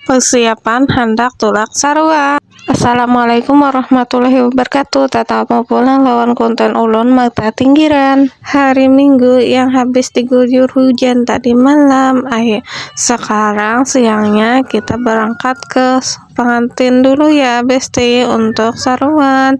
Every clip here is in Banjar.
Persiapan handak tulak sarua. Assalamualaikum warahmatullahi wabarakatuh Tatamu pulang lawan konten ulun mata tinggiran Hari minggu yang habis diguyur hujan tadi malam Akhir sekarang siangnya kita berangkat ke pengantin dulu ya besti untuk saruan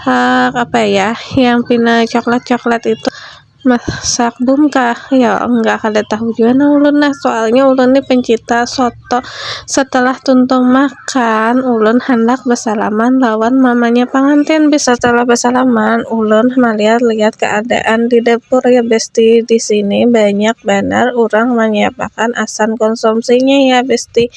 hak apa ya yang pina coklat-coklat itu masak bum kah ya enggak kada tahu jua nah ulun nah soalnya ulun ni pencinta soto setelah tuntung makan ulun handak besalaman lawan mamanya pangantin bis setelah besalaman ulun malihat-lihat keadaan di dapur ya besti disini banyak banar urang manyiapakan asan konsumsinya ya besti.